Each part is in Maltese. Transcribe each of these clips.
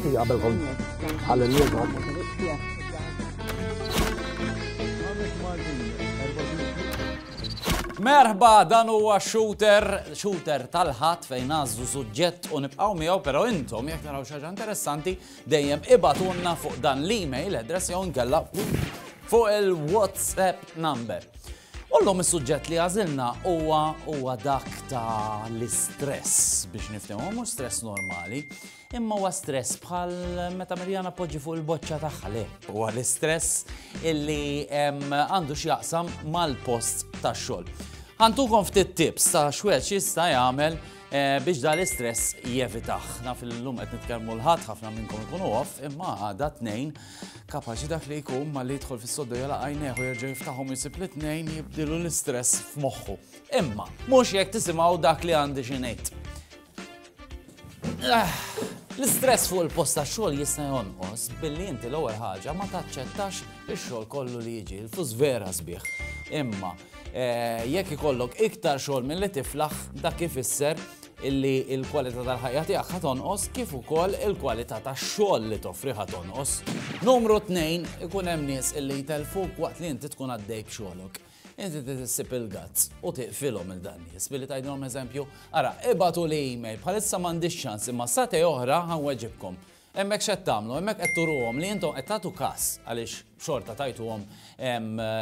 Għabelkom għal-nirgħod. Merħba dan huwa shooter, shooter tal-ħadd fejn għażu suġġett u nibqgħu miegħu, però intom jekk naraw xi interessanti dejjem ibatunna fuq dan l-email address jew nkella fuq il-WhatsApp number. U llum is-suġġett li għażilna huwa huwa dak ta' l-istress biex niftehmu mhux stress normali, imma huwa stress bħal meta Mirjana poġġi fuq il-boċċa tagħha le. Huwa l-istress illi għandu x'jaqsam mal-post tax-xogħol. Ħantukom ftit tips ta' xwed x'jista' jagħmel Eh, biex da l-istress jevitaħ. Naf il-lum qed nitkellmu l-ħadd ħafna minnkom ikunu off, imma għada tnejn Kapaċi dak li jkun ma li jidħol fis-soddu jala għajneħ u jerġa' jiftaħhom jisib li tnejn jibdilu l-istress f'moħħu. Imma, mhux jekk tisimgħu dak li għandi xi ngħid. Ah, l-istress fuq il-post ta' xogħol jista' jonqos billi inti l-ewwel ħaġa ma taċċettax ix-xogħol kollu li jiġi l-fus vera sbieħ. Imma, Jekk ikollok iktar xogħol milli tiflaħ, dak ifisser illi l-kwalità tal-ħajja tiegħek ħa tonqos kif ukoll il-kwalità tax-xogħol li toffri ħa tonqos. Numru tnejn, ikun hemm nies illi jtellfuk waqt li inti tkun għaddej b'xogħlok. Inti tissib il-gazz u tiqfilhom il dan nies billi tgħidilhom eżempju, ara ibatu li email bħalissa m'għandix ċans imma sate oħra ħanweġibkom. Hemmhekk x'qed tagħmlu? Hemmhekk qed turuhom li intom qed tagħtu kas għaliex xorta tajtuhom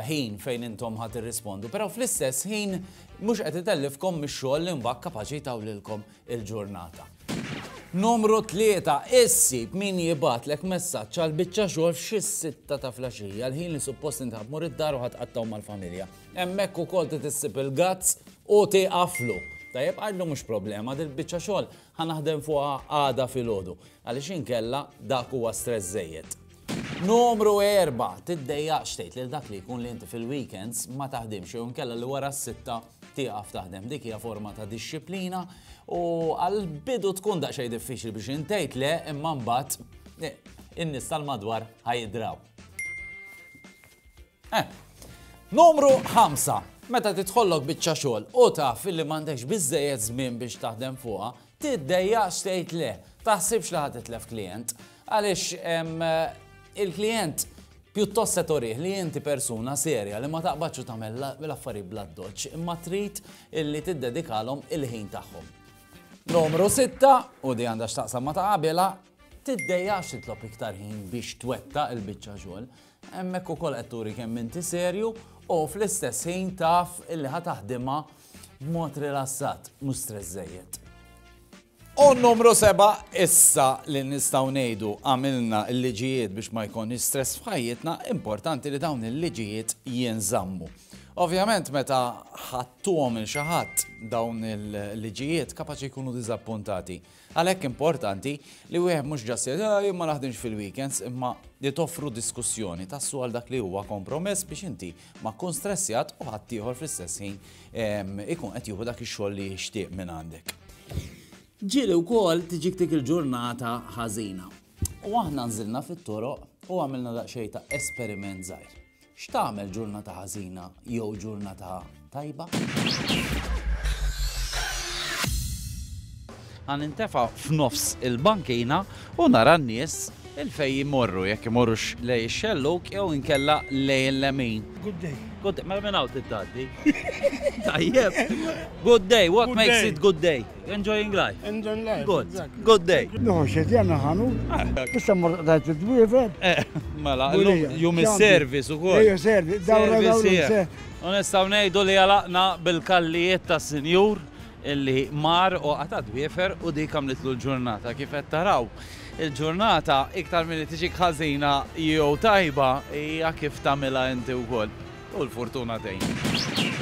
ħin fejn intom ħa tirrispondu, però fl-istess ħin mhux qed itellifkom mix-xogħol li mbagħad kapaċi jtawlilkom il-ġurnata. Numru tlieta, issib min jibgħatlek messaġġ għal biċċa xogħol f'xi sitta ta' flaxija, l-ħin li suppost inti ħa tmur id-dar u ħa tqattgħu mal-familja. Hemmhekk ukoll trid issib il-gazz u tieqaflu. Tajjeb għidlu mhux problema, dil-biċċa xogħol Ħa naħdem fuqha għada filgħodu, għaliex inkella dak huwa stress żejjed. Numru erba', tiddejjaqx tgħid lil dak li jkun li inti fil-weekends ma taħdimx jew inkella li wara s-sitta tieqaf taħdem. Dik hija forma ta' dixxiplina u għall-bidu tkun daqsxejn diffiċli biex intgħid le imma mbagħad eh, in-nies tal-madwar ħajdraw. Eh. Numru ħamsa. Meta tidħollok biċċa xogħol u taf li m'għandekx biżżejjed żmien biex taħdem fuqha, tiddejjaqx tgħid le. Taħsibx li ħadd itlef klijent. Għaliex il-klijent pjuttost se torih li inti persuna serja li ma taqbadx u tagħmel l-affarijiet bla doċċ imma trid illi tiddedikalhom il-ħin tagħhom. Numru 6 u di għandha x'taqsam ma ta' qabilha tiddejjax titlob iktar ħin biex twetta il-biċċa xogħol. Hemmhekk ukoll qed turi kemm inti serju u fl-istess ħin taf illi ħa taħdimha b'mod rilassat, mhux stress żejjed. U numru seba' issa li nistgħu ngħidu għamilna l-liġijiet biex ma jkunx stress f'ħajjitna, importanti li dawn il-liġijiet jinżammu. Ovvjament meta ħattuhom il xi ħadd dawn il-liġijiet kapaċi jkunu diżappuntati. Għalhekk importanti li wieħed mhux ġast jgħid ah jien ma naħdimx fil-weekends imma li toffru diskussjoni tassu għal dak li huwa kompromess biex inti ma tkun stressjat u ħadd ieħor fl-istess ħin ehm, ikun qed jieħu dak ix-xogħol li jixtieq minn għandek. Ġieli wkoll tiġik dik il-ġurnata ħażina. U aħna nżilna fit-toroq u għamilna daqsxejn ta' esperiment żgħir. X'tagħmel ġurnata ħażina jew ġurnata tajba? Għan intefa f'nofs il-bankina u nara n-nies il-fej jimorru, jekk imorrux lej xelluk jew inkella lej il-lemin. Good day. Good day, mela minn hawn tittaddi. Tajjeb. Good day, what makes it good day? Enjoying life. Enjoying life. Good. Good day. Nuħu xed jagħmel ħanu. Eh. Issa mor tajt id-dwiefel. Eh, mela, jum is-service ukoll. Ejja service, dawra dawra. Onesta ngħidu li għalaqna bil-kallijiet ta' sinjur illi mar u għata dwiefer u dik għamlitlu l-ġurnata kif qed taraw. Il-ġurnata iktar milli tiġi ħażina jew tajba hija kif tagħmilha inti wkoll. U l-fortuna tgħin.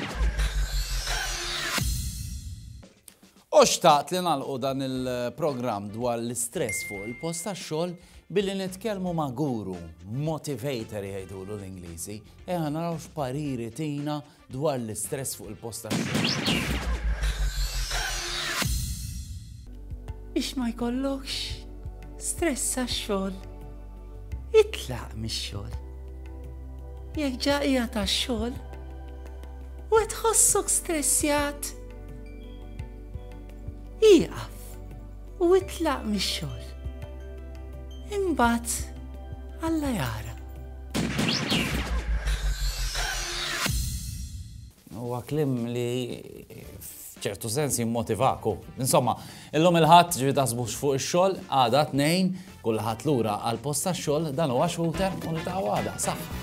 U xtaqt li nagħlqu dan il-programm dwar l-istress fuq il-post tax-xogħol billi nitkellmu ma' guru, motivator jgħidulu l-Ingliżi, eħa eh, naraw x'pariri tina dwar l-istress fuq il-post tax-xogħol. biex ma jkollokx stress għax-xogħol. Itlaq mix-xogħol. Jekk ġaqija tax-xogħol, u tħossok stressjat. Ieqaf u itlaq mix-xogħol. Imbagħad Alla jara. Huwa kliem li f'ċertu sens jimmotivaku. Insomma, illum il-ħadd ġifi taħsbux fuq ix-xogħol, għada tnejn, kulħadd lura għal post tax-xogħol dan huwa xħuter u nitgħu għada. Saħħa.